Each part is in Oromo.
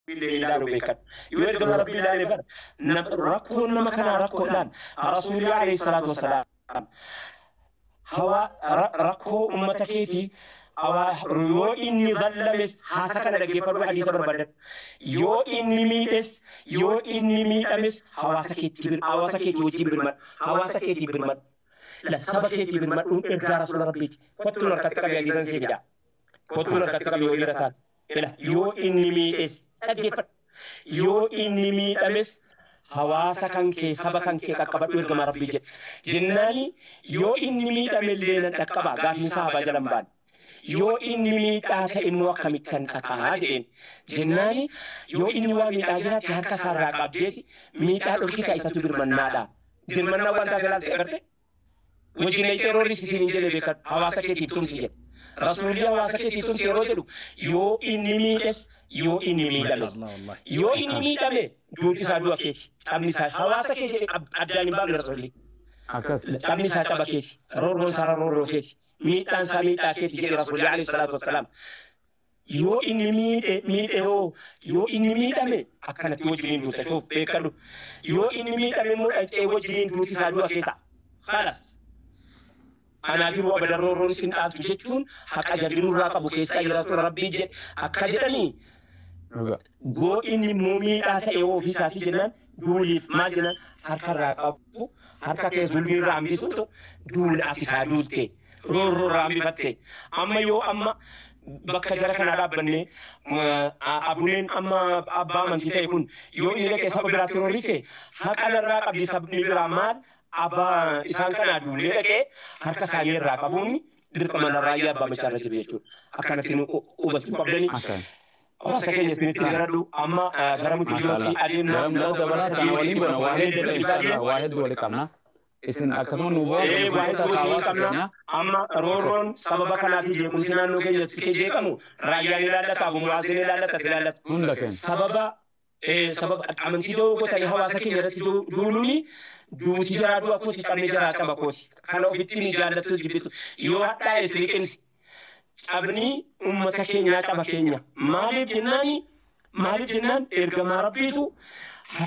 Rabbiillee ni ilaalu beekan. Yoo ergama Rabbii ilaale bar nam- rakkoon nama kanaa rakkoo ilaal. Rasuulli alayhi salaatu wassalaam hawa ra- rakkoo ummata keetii awaa yoo inni zallames haasa kana dhaggeeffadhu hadiisa barbaadan. Yoo inni miidhes yoo inni miidhames hawaasa keetti bir- hawaasa keetii wajjin birmadhu. Hawaasa keetii birmadhu. La saba keetii birmadhuun ergaa rasuula Rabbiiti. Kottuun harkatti qabii hadiisan sii fidaa. Kottuun harkatti qabii yoo dhiira taate. Ila, yoo inni miidhes dhaggeeffadhu. Yoo inni miidhames hawaasa kan kee, saba kan kee qaqqabadhu ergamaa Rabbii jedhe. Jennaani yoo inni miidhamellee nan dhaqqabaa? Gaafiin sahaabaa jala hin baane. Yoo inni miidhaa ta'e immoo akkamittan dhaqaa? jedheen. Jennaani yoo inni waa miidhaa jiraatte harka isaa irraa qabdeeti miidhaa dhorkitaa isatu birmannaadha. Dirmannaan waan taate laaltee agartee? wajjin dhayxee roorris isin hin jedhe beekan hawaasa keetiif tumsi jedhe. Rasuulli hawaasa keetii tumsi yeroo jedhu yoo inni miidhes yoo inni miidhames. Yoo inni miidhame duuti isaa du'a keeti. Cabni isaa hawaasa kee jedhe addaan hin baafne rasuulli. Cabni isaa caba keeti. Roorroon isaa roorroo keeti. Miidhaan isaa miidhaa keeti jedhe rasuulli alayhi salaatu wassalaam. Yoo inni miidhe miidhe hoo? Yoo inni miidhame akkanatti wajjiniin duuta shuuf beekadhu. Yoo inni miidhame immoo dhaqxee wajjiniin duuti isaa du'a kee ta'a. Kalas. Anaa jiru abadan roorroon isin dhaabtu jechuun haqa jarri nurraa qabu keessaa jiraatudha rabbii jedhe akka jedhanii Dhugaa. Go inni immoo miidhaa ta'e hoo ofii isaatii jennaan duuliif maal jennaan harka irraa qabu harka kee zulmii irraa hambisuutu duula ati isaa duulte roorroo irraa hambifatte amma yoo amma bakka jara kanaa dhaabbannee abuneen amma abbaa amantii ta'e kun yoo inni dhaqee saba biraatti roorrise haqa narraa qabdi sabni biraa maal abbaa isaan kanaa duulee dhaqee harka isaanii irraa qabuun dirqama narraa yaa abbaa machaa irra jiru jechuudha akkanatti nu hubachuun qabdanii. obsa keenya isinitti garadhu amma gara mucuyyootti adeemna Garam nama dabalaa kana waliin goona waa hedduu waliin qabna waa hedduu waliin qabna. Isin akkasuma nu bu'aa Ee, waa hedduu qabna waliin qabna. keenya. amma roorroon sababa kanaatiin jeequmsi naannoo keenyatti jeeqamu raayyaan ilaallata abumaazin ilaallata ilaallata Hunda keenya. sababa sababa amantii da'oo godhatanii hawaasa keenya irratti duuluuni duuti jaraa du'a kooti cabni jaraa caba kooti kana ofitti ni jaallattu jibbitu yoo hadhaa'e siliqimsi cabni ummata keenyaa caba keenya maaliif jennaani maaliif jennaan ergamaa rabbiitu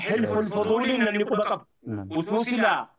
hilful fuduulii namni quba qabu utuu silaa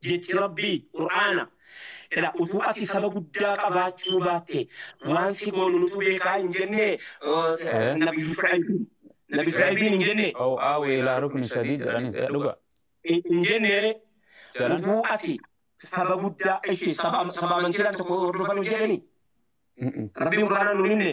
Jechi Rabbii, Qur'aana, Ila utuu ati saba guddaa qabaachuu baatte waan si goonu nutu beekaa hin jenne Eh? Nabiyyu Shu'aybiin. Nabi Shu'aybiin hin jenne. Aw aawi ilaa rukni shadiid jedhanis eh, dhuga Hin jenneere jedhan utuu ati saba guddaa ishi saba saba amantiidhaan tokko hordofan hin jedhani. Mm-mm. Rabbiin Qur'aanaan nu himne.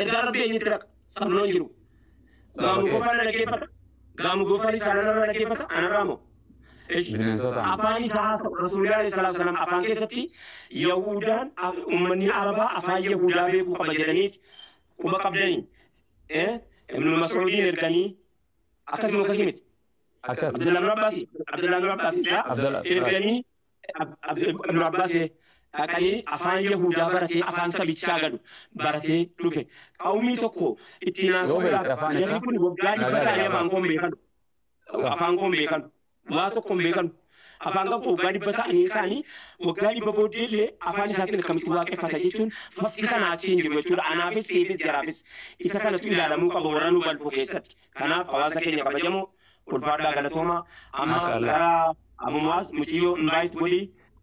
Ergaa rabbi eenyutti raqa? Sabloon jiru. Gaamu gofaan dhaggeeffata. Gaamu gofaan isaa anarra dhaggeeffata. Anarraa moo? Ish. Bineensota. Afaan isaa haasa'u. Rasuulli alayhi salaatu wasalaam afaan keessatti Yahuudaan ummanni Arabaa afaan Yahuudaa beekuu qaba jedhaniiti. Quba qabdanii. Eh? Ibnu Mas'uudiin erganii akkasuma akkasii miti. Akkas. Abdullahi bin Abbaasi. Abdullahi bin Abbaasi isaa Abdalla. erganii Ibnu Abbaas dhaqanii afaan Yahuudaa baratee afaan sabichaa gadu baratee dhufe. Qawmii tokko itti naasisuudhaaf jarri kun waggaa dhibba ta'anii afaan koon beekanu. Afaan koon beekanu. Waa tokko hin beekanu. Afaan qabu waggaa dhibba ta'anii kaanii waggaa dhibba booddee illee afaan isaatiin akkamitti waaqeffata jechuun fafti kanaa achi hin jiru jechuudha. Anaafis siifis jaraafis isa kanatu ilaalamuu qaba warra nu balfu keessatti. Kanaaf hawaasa keenya kabajamoo ulfaadhaa galatooma amma Masha Allah. gara Abu Mu'aaz muciyyoo invite godhi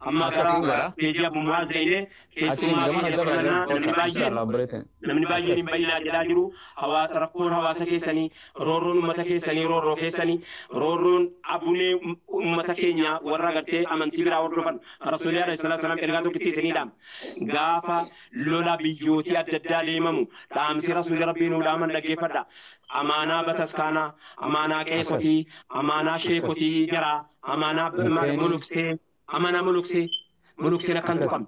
amma Akka gara ta'u gara. peejii Abu Mu'aaz dhaqnee Achiin keessumaa gamana keenya dabala fudhannaa namni dabala. baay'een Inshallah obboleettiin. namni baay'een hin bayyinaa jedhaa jiru Hawaa- rakkoon hawaasa keessanii roorroon ummata keessanii roorroo keessanii roorroon abunee um- ummata keenya warra gartee amantii biraa hordofan rasuulii alayhi salaatu wasalaam ergaa tokkitti isiniidhaam gaafa Lola biyyootii adda addaa deemamu, dhaamsi Rasuulli Rabbii nuu dhaaman dhaggeeffadha. Amaanaa bataskaanaa, amaanaa qeesotii, amaanaa sheekotii jaraa, amaanaa b- maal- muluksee, amaanaa muluksee, mulukseen akka hin tuqamne,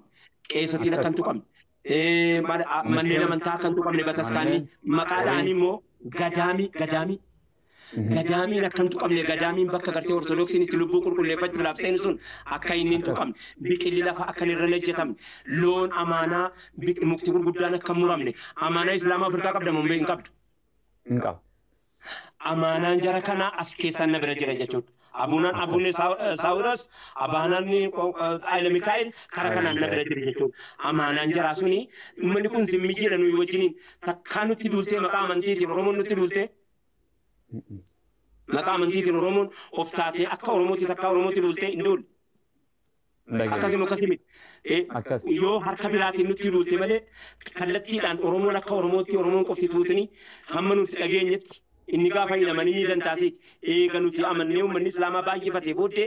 qeesotiin akka hin tuqamne, ee, maal- a- manneen amantaa akka hin tuqamne bataskaanni, maqaa dha'anii immoo gadaamii, gadaamii, Gadaamiin akka hin tuqamne, gadaamiin bakka gartee Ortodoksiin itti lubbuu qulqulleeffachuudhaaf seenu sun akka inni hin tuqamne, biqilli lafa akka inni irra hin hojjetamne, loon amaanaa, biq- mukti gurguddaan akka hin muramne, amaanaa Islaamaa Afrikaa qabda moo hin qabdu? Hin qabu. amaanaan jara kanaa as keessaan na bira jira jechuudha. Abuunaan Abuunee Saawuras, Abaanaan Ayila Mikaa'el karaa kanaan na bira jira jechuudha. Amaanaan jaraa suni uummanni kun zimmi jira nuyi wajjiniin takkaa nutti duultee maqaa amantiitiin Oromoon nutti duultee Maqaa amantiitiin Oromoon of taatee akka Oromootti takkaa Oromootti duultee hin duulle. Akkasi moo akkasi miti. Eh, Akkas. Yoo harka biraatiin nutti duulte malee kallattiidhaan Oromoon akka Oromootti Oromoon qofti tuutni hamma nuti dhageenyetti inni gaafa hidhaman inni dantaasiiti. Eega nuti amannee uummanni Islaamaa baay'ifate booddee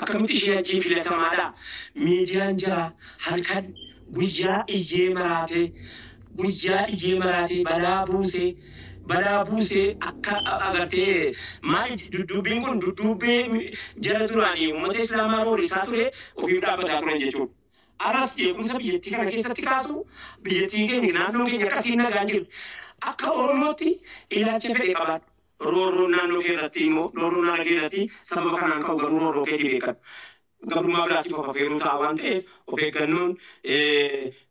Akkamitti ishee ajjiin filatamaadha? Miidiyaan jara halkan guyyaa iyyee maraatee guyyaa iyyee maraatee balaa buusee balaa buusee akka agartee maali dudduubbiin kun dudduubbee jara duraanii uummata islaamaa roorrisaa ture ofiif dhaabbataa turan jechuudha. Aras jeequmsa biyyattii kana keessatti kaasu biyyattiin keenya naannoon keenya akkasiin nagaan jirti. Akka Oromootti ilaacha fedhe qabaadhu. Roorroon naannoo kee irratti immoo roorroo naannoo kee irratti sababa kanaan ka'u garuu roorroo keetii beekadhu. Gabrummaa biraatiif of afeeruu ta'a waan ta'eef of eeggannoon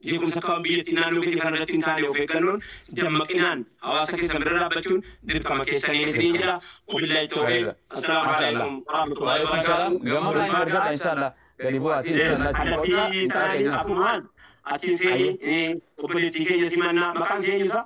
jeequmsa akka biyyattii naannoo keetii kana irratti hin taane of eeggannoon dammaqinaan hawaasa keessan bira dhaabbachuun dirqama keessanii isiniin jedha. Wabillahi tawfiiq. Assalaamu alaikum warahmatullahi wabarakaatuh. Gamoo irraa hin argadha inshallah. Gadi bu'aa ati inshallah achi Adabbii boqodhaa isaa isaanii ta'inaa. afumaan atiin seeni obboleettii keenya simannaa maqaan seenyusa.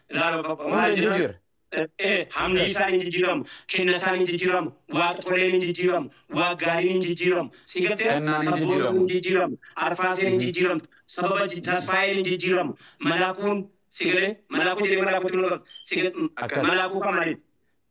Ilaaloo bakka maal Hunda hin jedhan jijjiirre. ee, hamni isaa hin jijjiiramu, kenna isaan hin jijjiiramu, waaq toleen hin jijjiiramu, waaq gaariin hin jijjiiramu. Si galtee Kennaan hin sabboontuun jijjiiramu. hin jijjiiramu, arfaaseen hin jijjiiramtu, sababa ji- tasfaayeen hin jijjiiramu, malaakuun si galee malaakuu jedhee malaakuu jedhee malaakuu si gal- Akkas. malaakuu kan malee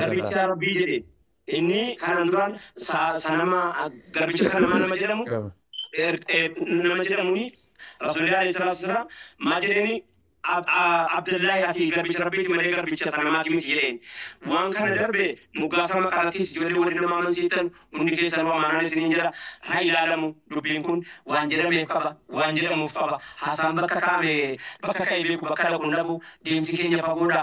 Garbicha Rabbii jedhe. Inni kanaan duraan sanama garbicha sanamaa nama jedhamu nama jedhamuuni Rasuulillah alayhi salaatu wasalaam maal jedheeni Abdullahi ati garbicha Rabbiiti malee garbicha sanamaati miti jedheen. Waan kana darbe moggaasa maqaarrattis ijoollee warri nama amansiiftan hundi keessan amaanaan isiniin jedha haa ilaalamu dubbiin kun waan jedhameef qaba waan jedhamuuf qaba haasaan bakka kaa'ame bakka ka'ee beeku bakka dhaqu hin dhabu deemsi keenya fagoodha.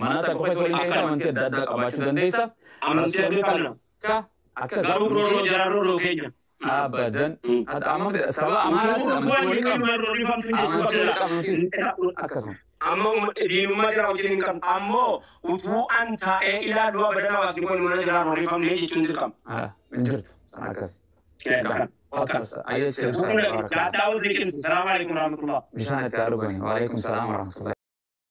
Manaa tan qofa isa waliin deemtee amantii adda addaa qabaachuu dandeessa. Amantii adda qabna. Ka akka Garuu roorroo jara roorroo keenya. abadan Ad- amantii sababa amaanaatis amantii Waan waliin qabna. qabnu roorrifamtu hin jirtu. Amantii waliin qabnutis akkasuma. Amma umma- diinummaa jara wajjin hin qabnu. Ammoo utuu an taa'ee ilaaluu abadan hawaasni kun mana jara roorrifamne jechuun dirqama. Ah, Hin jirtu. San akkas. Kan- Akkas. Ayyee Kun cheersaa. gaadhaa warri qinsi. Salaamu alaikum warahmatullahi. Bishaan itti haa dhugani. Waalaikum salaam warahmatullahi.